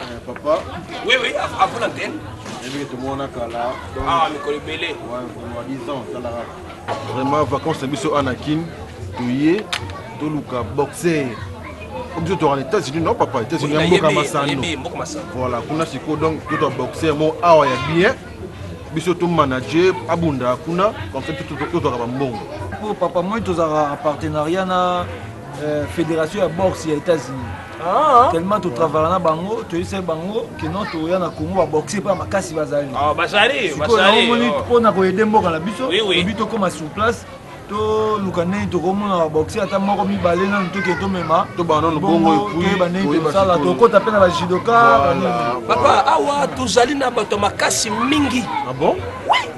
Eh, papa oui oui avant l'antenne ebi tomona kala ah mikolo ebele vraiment 10 ans talaka vraiment vacances na biso ana kin toye toluka boxer biso toka na états-unis non papa états-unis ya mboka masano voilà kuna sikoyo donc totwa boxer mo awa ya bien biso tomanager abunda kuna comme ça totwaka bambongo papa moi tozalaka partenariat na euh, fédération ya boxe ya états-unis ah. tellement totravaka na bango toyebisaki bango keno toya na congo baboxe mpo ya makasi bazali ah, bazaliomoni oh. mpo na koyede mboka na biso obi tokóma sur place toluka ndenge tokomona baboxe ata moko mibale nanu toke tomema toyeba ndenge tosala tokota mpe na bajidoka papa awa tozali na bato makasi mingi ah bon? oui.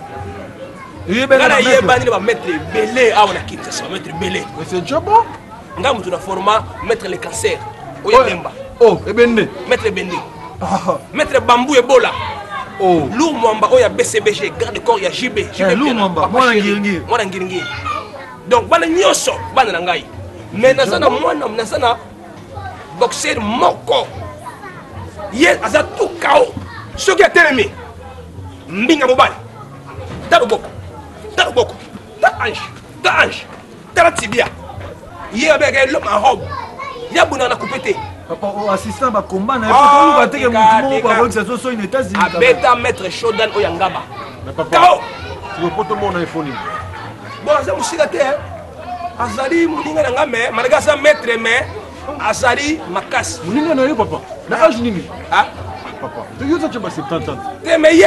nga nayebani na bamaitre ebele awa na kinshasa bamaitre ebele nga moto na forma maitre le cancer oyo ebemba oh, ebende maitre ebende maitre bambu ebola oh. lour mwamba oyo ya bcbg garde corps ya jb eh, mwana ngiringiri donc bana nyonso bana na ngai mais naza na mwana naza na boxer moko ye aza tout kao soki atelemi mbinga mobali ta loboko ta loboko ta ange ta ange tala tibia ye abeka eloma ya robe ya buna na kupe te assistant bakomba na yoluka teke motu moko bakokisa so soki na états-unis abeta maître shodan oyo ya ngaba kao lopoto moko na efoni bon aza mosika te azali moninga na nga me malgré aza maître mais azali makasi moninga na yo papa na age nini papa toyoza cemba 70 ans te mais ye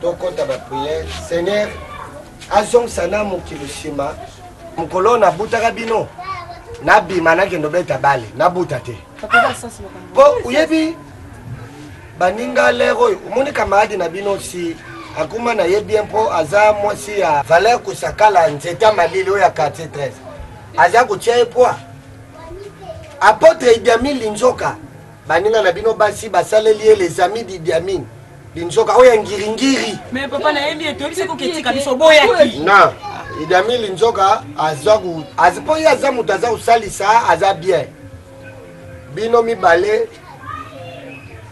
tokota ba prière seigneur azongisa na mokili nsima mokolo oyo nabutaka bino nabima nakende obeta bale nabuta te mpo oyebi baninga lere oyo omoni kamaradi na bino si akuma na ye bien mpo aza mwasi ya valeur kosakala nzeta malili oyo ya quartier 13 aza kotia ye poi apotre idiamine linzoka baninga na bino basi basaleli ye les amis d'idiamine linzoka oyo ya ngiringiri mais papa nayebi ete oyebisi koki etika biso boyaki na idami linzoka aza mpo ye aza moto aza kosalisa aza bien bino mibale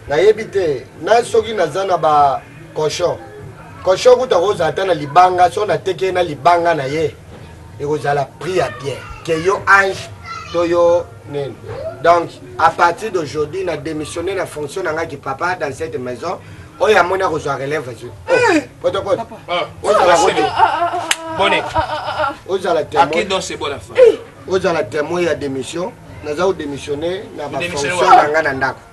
nayebi te na soki naza na ba cochon cochon kuta kozala ata na libanga so nateki ye na libanga na ye ekozala prix ya bien ke yo ange to yo nini donc à partir d'aujourd'hui na démissionné na fonction na ngai kipapa dans cette maison oyo amoni akozwa relève azwi potopoto ozala kodi bone ozala témoin ozala témoin ya démission naza kodémissionné na bafonction na ngai na ndako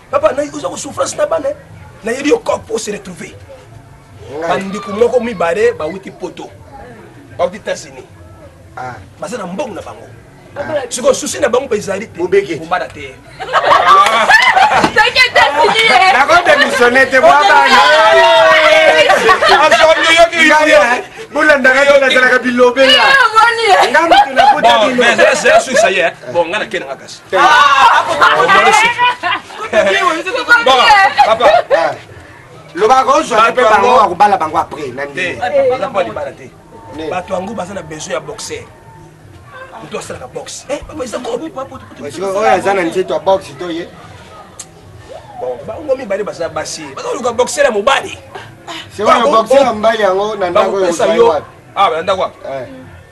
Papa, na oza ko souffrance na bana. Na yebi yo corps pour se retrouver. Bandeko moko mibale bawuti poto. Bawuti États-Unis. Ah. Baza na mbongo na bango. sikoyo susi na bango mpe ezali te kobala te nakodemissione te bolandaka yo nazalaka bilobela nga moto nakotaesukisa ye bon nga nakende nga kasi lobaka ozwa mpe bango akobala bango après na ndenge bato yango baza na besoin ya boxer moto asalaka boxe eh, oyo aza na nzeto ya boxe to ye bango mibale baza basi bazoluka boxer ya mobali sikoyo boxer ya mobali yango na ndako yo awa ah, na ndako wapi eh.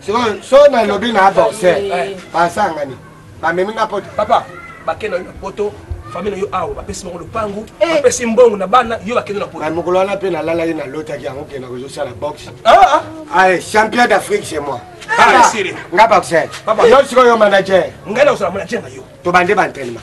sikoyo so nalobi na bose basangani bamemi nga poto papa bakenda yo na poto famille na yo awa bapesi bango lopangu eh. bapesi mbongo na bana yo bakende na poto mokolo wana mpe nalalaki nalotaki yango kenda kozosala boxe ah, ah. champion d'afrique chez moi ah, nga boxer yo sikoyo manager ngai nakozala manager na yo tobande baentraînement